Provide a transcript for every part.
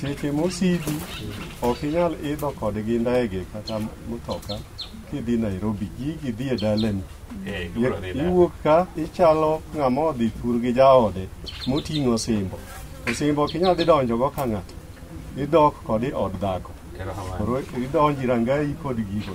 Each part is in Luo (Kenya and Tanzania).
Seche mosidi ok inyal idho kodgi ndege kata mtoka kidhi Nairobi, gigi dhi e dalani. Eh, gibiro dhi dala. Iwuok ka ichalo ng'ama odhi thur gi jaode moting'o osimbo. Osimbo ok inyal dhi donjogo ka ng'ato, idok kode od dhako. Erokamano. Koro idonji rangai kod gigo.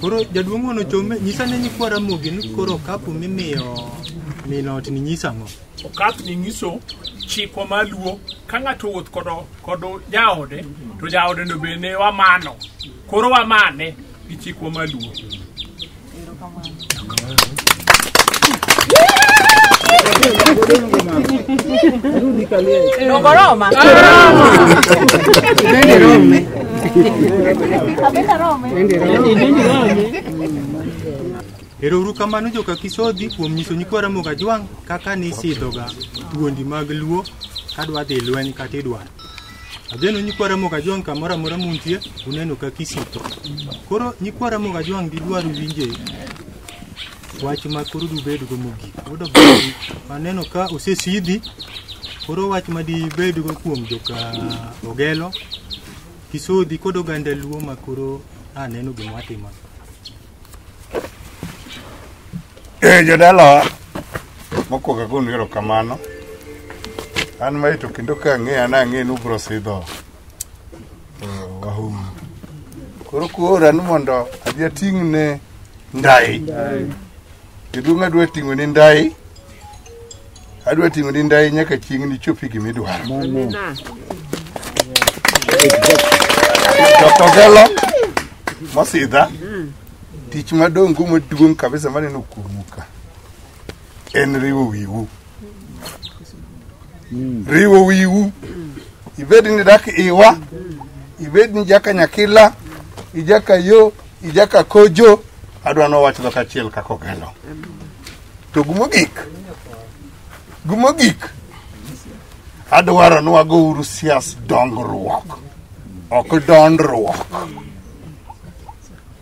Koro jaduong' ono chome nyisa ne nyikwa Ramogi ni koro kapu mimiyo min ot ni nyisa ang'o? Okap ni nyiso chikwa ma luo ka ng'ato owuoth kodo kodo jaode to jaode no be ne wamano koro wamane gi chikwa ma luo Nogoroma. Nende Rome. Nende Rome. Erouru kamano joka Kisodhi kuom nyiso nyikwa Ramogi Ajwang' kaka nisidhoga thuondi mag Luo kadwa dhi lweny kata idwaro. Ageno nyikwa Ramogi Ajwang' kamoro amora muntie uneno ka kisiko. Koro nyikwa Ramogi Ajwang' didwar winje wach ma koro dubedgo mogik. Yudo bang' maneno ka osesidhi koro wach ma dibedgo kuom joka Ogelo, Kisodhi kod oganda Luo ma koro aneno gima watimo. Eh, jodalawa mokwongo agonu erokamano an mae to kendo ka ang'eya na ang'e ni ubro sidho eh, wahumu koro kuora ni mondo adhi ating'ne ndai jaduong' adwa ting'one ndai adwa ting'o ni ndai nyaka chieng' nichopi gima idwaro tokelo mosidha tich madong' go maduong' kabisa maneno kuomu ka en riwo wiwu riwo wiwu ibed ni dak iwa ibed ni jaka nyakila ijaka yo ijaka kojo adwa nowachno kachiel kakogelo To gumogik, gumogik, adwaro ni wago uru sias dongruok, ok dondruok.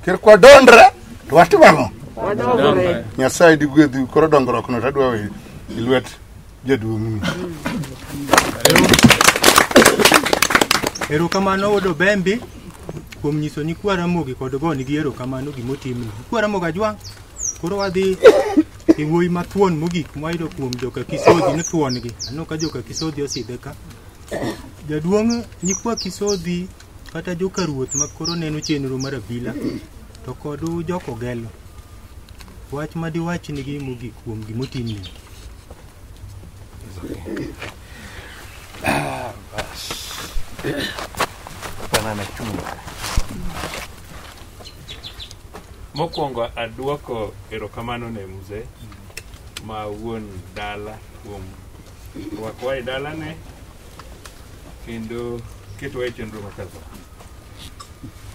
Ker kwa dondre, to watimo ang'o? Wadongore. Nyasaye digwedhi koro dongruok no tadwa we i lwet jaduong'ni. Erokamano wuod Obembi kuom nyiso nyikwa Ramogi kod gonigi erokamano gimotimni. Nyikwa Ramogi ajwang'. Koro wadhi e wuoyi ma thuon mogik mwayudo kuom joka Kisodhi ni thuon gi. Aneno ka joka Kisodhi osidhe ka. Jaduong' nyikwa Kisodhi kata joka ruoth ma koro neno chenro mar abila to kod joko gelo. Wach ma diwach nigi mogik kuom gimotimni. Banana chunga. Mokwongo aduoko erokamano ne mzee ma wuon dala kuom rwakowa e dalane kendo ketowa e chenro ma kaza.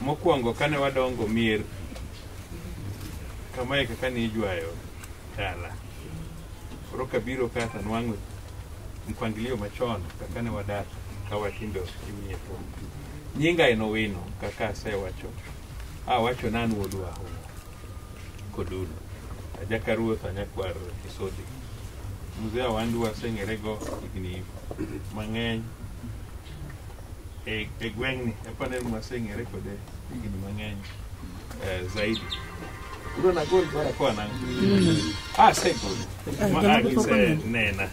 Mokwongo kane wadongo mier kamae kaka ne ijwayo Tala. Koro kabiro ka to nwang'o mpangilio machon kaka ne wadak ka watindo inyiepo. Nyinga en Owino kaka asewacho. Awacho nan wuod Wahunga Kodulu. Ajaka ruoth anyakwar Kisodi. Mzee Awandu waseng'erego higni mang'eny e e gweng'ni. Aparo ni waseng'ere kode higni mang'eny. eh, zaidi Bro na gold bana. kwa na ah sai ko ma a ki sai nena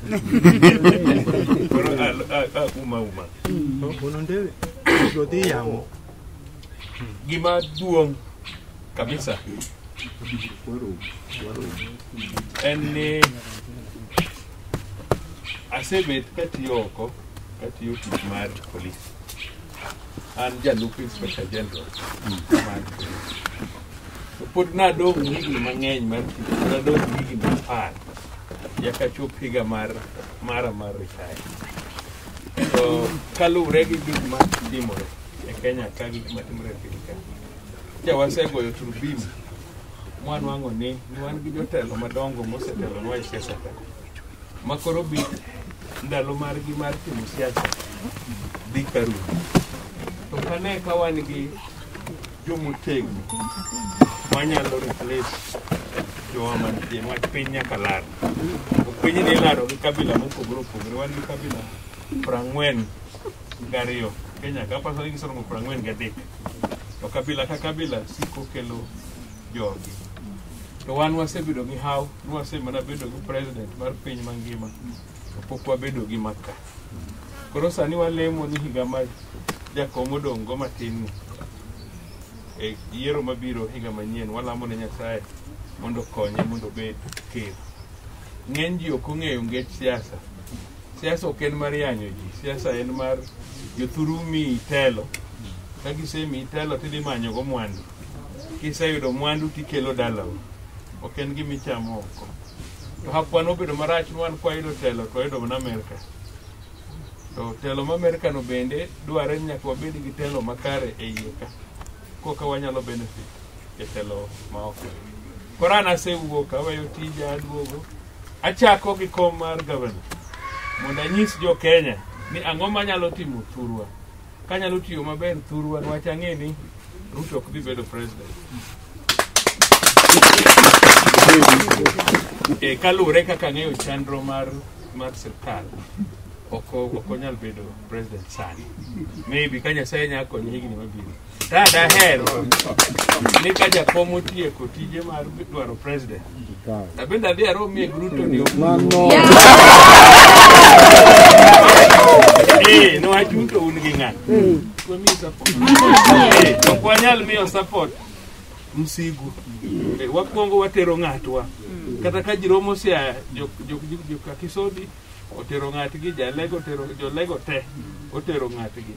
Bro, ah, ah, ah, uma uma Unondele. Godi yamo. gima duong' kabisa en ni asebet katiyo oko katiyo tich mar polis an jalup inspector general mar to pod nadong' higni mang'eny mar tich nadong' higni apar nyaka chop higa mar mara mar retire to kaluwre gi gik ma timore e kenya ka gik ma timore e piny ka ja wasegoyo turbim mwanwang'o ni wan gi jotelo madongo mosetelonwa e siasa ka makoro bi ndalo margi mar timo siasa dhi karumo to kane ka wan gi jomotegno manyalo replace jowa mantie wach piny nyaka lar ok piny ni ilaro gi kabila mopogore opogore wan gi kabila prang'wen gariyo kenya ka pasore gisorongo prang'wen gadek to kabila ka kabila siko kelo jogi to wan wasebedo gi haw ni wasemana bedo gi president mar piny mangima to pok wabedo gi maka koro sani walemo ni higa ma jakom odong' go matin ni e yiero mabiro higa manyien walamo ne nyasaye mondo okonye mondo obed ker ng'eny ji ok ong'eyo ngech siasa siasa ok en mar yanyo ji siasa en mar jothuru mi telo ka gisemi telo tidhi manyogo mwandu kiseyudo mwandu tikelo dalau ok en gima ichamo oko to hapwa nobedo marach nwan kwayudo telo to wayudo mana amerka to telo ma amerka no bende dwarore ni nyaka wabed gi telo makare e iye ka koka wanyalo benefit e telo ma oko koro an asewuok aweyo tija aduogo achako gi kom mar gavana mondo anyis jo kenya ni ang'o manyalo timo thurwa kanyalo tiyo maber thurwa nwach ang'e ni ruto ok dhi bedo president e, kaluwore kaka ang'eyo chandro mar mar sirkal ok onyal bedo president sani maybe ka nyasaye nya konye higni mabiro ta daher ni ka jakom otieko tije mar dwaro president Napenda pia roho mie Gruto ni Mano. Eh, no ajunto un gi ng'at. Kwa mi support. Eh, to kwa nyal miyo support. Msigu. Eh, wakwongo watero ng'atwa. Kata ka jiromo sia jok jok jok jok akisodi otero ng'atgi jalega otero jolega te otero ng'atgi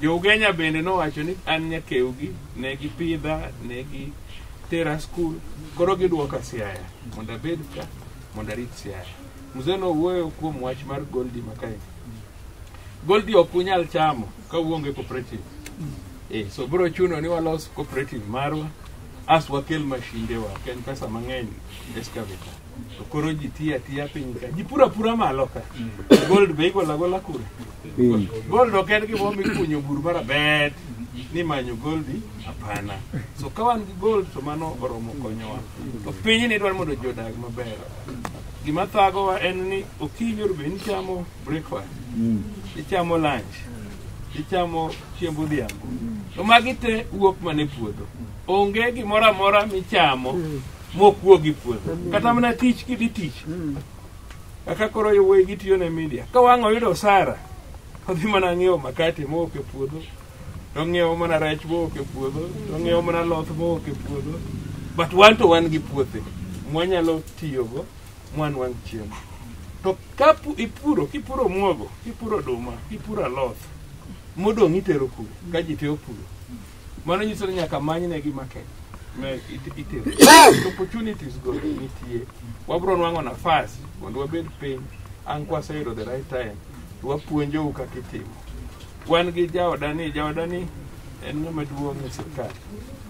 jougenya bende nowacho ni an nyakewgi ne gipidha ne gitera skul koro gidwoka siaya mondo abed ka mondo arit siaya mzee nowuoyo kuom wach mar goldi makae goldi ok unyal chamo ka uonge cooperative eh, so biro chuno ni walos cooperative marwa as wakel mashindewa ok en pesa mang'eny excavator To koro ji tiyo atiya piny ka. Ji pura pura malo ka. Gold be igola gola kure. Gold ok en gima omi kunyo bur mar abet ni manyo goldi hapana. So ka wan gi gold to mano oromo konyowa. To piny ni dwaro mondo ji odag maber. Gima thagowa en ni okinyi oru be nichamo breakfast, ichamo lunch, ichamo chiemb odhiambo. To magi te wuok mana e puodho. Onge gimoro amora michamo mokuo gi puodho kata mana tich kidhi tich kaka koro yowuoyi gitiyo ne media ka wang' oyudo osara odhi mana ng'iewo makate mowok e puodho to ng'iewo mana rech mowok e puodho to ng'iewo mana loth mowok e puodho but wan to wan gi puothe mwanyalo tiyogo mwanwang' chiemo to ka pu- ipuro kipuro muogo kipuro oduma kipuro aloth modong' itero kuro ka ji te opuro Mano nyiso ni nyaka manynegi market ma it- itero. To Opportunities go nitie. Wabro nwang'o nafas mondo wabed piny ang' kwaseyudo the right time to wapuonjou kaka itimo. Wan gi jaodani, jaodani en ng'ama duong' e sirkal,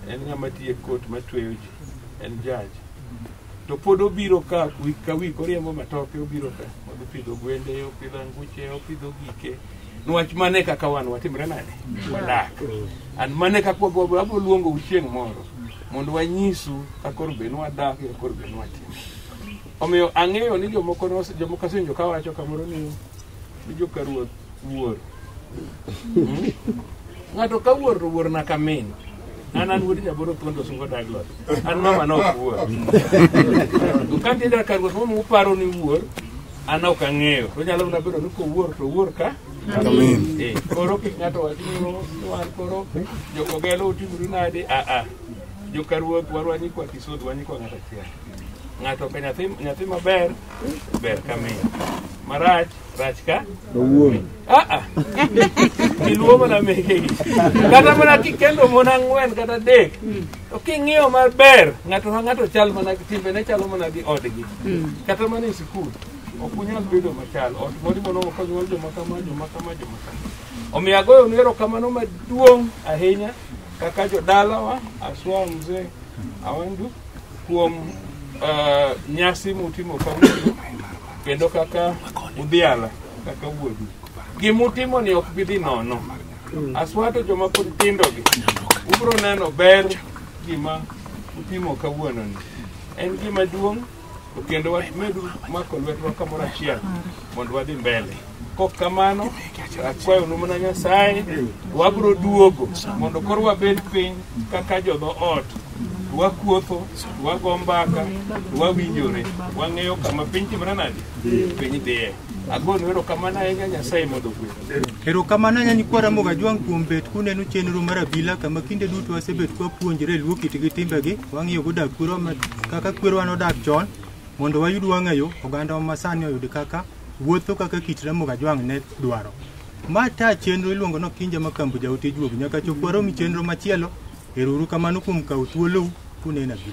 en ng'ama tiyo e kot matweyo ji, en jaj. To pod obiro ka wik ka wik oriembo matoke obiro ka, odhi pidho gwende, opidho anguche, opidho gike, nwach mane kaka wan watimre nade wadak and mane kaka wabro abro luongo u chieng' moro mondo wanyisu kakoro be nwadak e kakoro be nwatimo omiyo ang'eyo ni jomoko nos- jomoko asenjo ka wacho kamoro ni ni joka ruoth wuor Mm. ng'ato ka wuor to wuor na kamin an an wuod jaboro thuondo sungo daglot an mama no ok wuor kantieda ka ruoth mama uparo ni wuor an ok ang'eyo to nyalo mana bedo ni kowuor to owuor ka Eh, koro kik ng'ato wach ni "Oh, wan koro jokogelo utimru nade aa joka ruoth warwa nyikwa kisod wa nyikwa ng'ato achiel ng'ato ka nyathi nyathi maber ber ka miyo marach rach ka aa iluwo mana mekegi kata mana kikendo mon ang'wen kata adek to king'iyo maber ng'ato ka ng'ato chal mana timbene chalo mana gi odgi kata mana e sikul ok unyal bedo machal ot mori mono ok onyuol joma kama joma kama joma kama omiyo agoyonu erokamano maduong' ahinya kaka jodalawa aswa mzee awandu kuom eh, nyasi mutimo kawuono kendo kaka udhiala kaka wuodu gima utimo ni ok bi dhi nono aswato joma pod tindogi ubiro neno ber gima utimo kawuononi en gima duong' to kendo wamedu mako lwetwa kamoro achiel mondo wadhi mbele Kok kamano, akwayo nu mana Nyasaye, wabiro duogo mondo koro wabed piny kaka jodhoot, wakuotho, wago mbaka, wawinjore, wang'eyo kama piny timore nade, piny dhiye. Agonu erokamano ahinya Nyasaye mondo ogwedhu. Erokamano ahinya nyikwa Ramogi Ajwang' kuom bet kuneno chenro mar abila kama kinde duto wasebet kwapuonjore luo kit gi timbegi, wang'iyo godak kwerwa ma- kaka kwerwa nodak chon mondo wayud wang'ayo oganda ma sani oyud kaka wuotho kaka kit Ramogi Ajwang' ne dwaro. Ma ta chenro iluongo no Kinja ma Kambu Jaote Juogi nyaka chop waromi chenro machielo. Ero uru kamano kuom kawo thuolou kunena gi.